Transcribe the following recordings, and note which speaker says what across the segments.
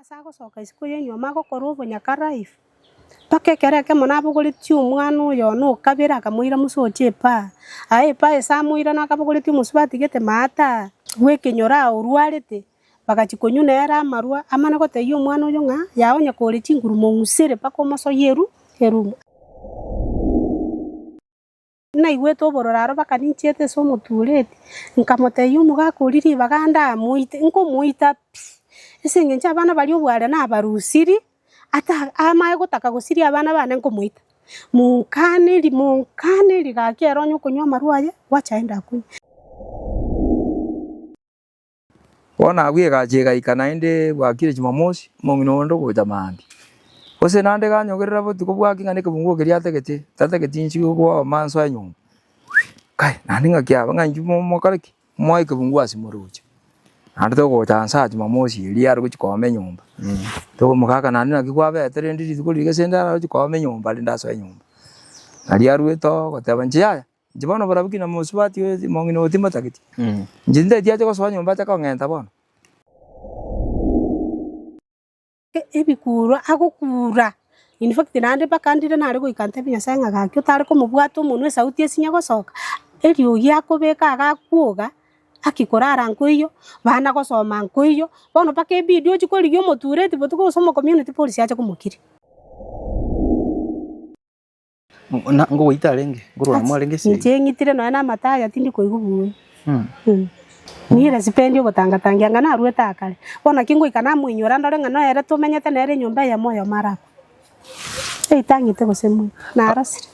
Speaker 1: Ase agosoka isiko y'enyuoma agokorwa obonyakarairi, mpaka ekero ekemo nabogoretie omwana oyo one o kabere, akamoira mosokia epara. Aye epara ase amoira naki abogoretie omosubati atigete maate aa bw'ekenyoro aa orwarete, bagachia konywa nere amarwa, amana gotebia omwana oyio ng'a, Yao onye kore chinguru mong'usere mpaka omosoyie eru erumo. Naigwete obororo aro mpaka ninchiete ase omotureti, nkamotebia, Omogaka oria ribaga ande aa, moite, nkomoita pi, ase engencho abana baria obware nabarusiri, ata amae gotaka gosiria abana bane nkomoita. Monkane ri monkane rigaki ere onye okonywa amarwa aye, gwacha aende akonye.
Speaker 2: Bono agwo egachi egaika naende bwakire Chimamosi, omong'ina onde ogocha maambia. Gose naende ganyogerera botuko bwake ng'a nekebungo keria atagete, tatageti inche igo kobaoma nso enyomba, kai naende ng'a kiaba ng'a inchuo mokore ki? Moe ekebungo ase moroche. Naende togocha nsa Chimamosi eria arogochi kooma enyomba, togomoka ng'a naende naki kwabete rende rituko riria gese nde aragochi kooma enyomba rende asoe enyomba. Nario arwete oo goteba inche yaya, Inche bono oborabu ki namosubati oyo omong'ina oyo timotageti? Inche tinteti ache gosoa nyomba ache kong'enta bono.
Speaker 1: Ebikuurwa agokuura, in fact naende mpaka ndire nare goika ntebie Nyasae ng'a gaki otare komobwata omonwe esauti esinye gosoka, eriogi akobeka agakwoga, haki korara nkoiyo, bana gosoma nkoiyo, bono mpaka ebidi ochie korigia omotureti botuko gose omocommunity policy ache komokiria.
Speaker 3: Na ngogoita arenge, ngorwana mo arenge ase eyio. Inche ng'itire nonya namata
Speaker 1: aria tindi koigwa buya. Mm. Mm. Nire sipendi ogotangatangia ng'a narwete akare. Bono naki ngoika namoinyora ndore ng'a noyo ere tomenyete nere enyomba eyemo oyomo arakwe. Eitang'ete gose moika, narosire.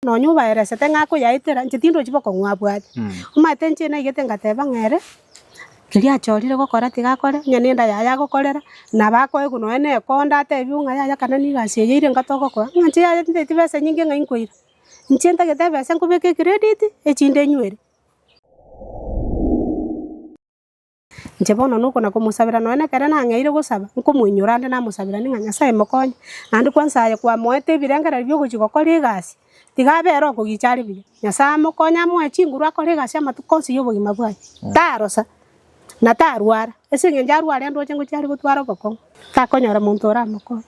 Speaker 1: nonya obaeresete ng'a akoyaetera, inche tindochi boka ong'we abwate. Omanyete inche naigete ngateba ng'a ere, keria achorire gokora tigakore, onye nenda yaye agokorera, nabo akoe nonye na ekonda atebie ng'a yaya kana nigo ase eye ire inga togokora, ng'a inche yaya tintagete ebesa enyinge ng'a inkoira, inche ntagete ebesa nkobeke ecredit, echinde nywere. Inche bono noko na komosabera nonya nekero nang'eire gosaba, nkomoinyora ande namosaberanie ng'a Nyasae mokonye, naende kwansa aye kwamoete ebirengererio bia ogochia gokora egasi, tiga abe ere okogicha are buya. Nyasae amokonye amoe chinguru akore egasi amatuko onsi y'obogima bwaye, tarosa, na tarwara, ase eng'encho arware ndoche ngochia are gotwara obokong'u, takonyora monto oramokonye.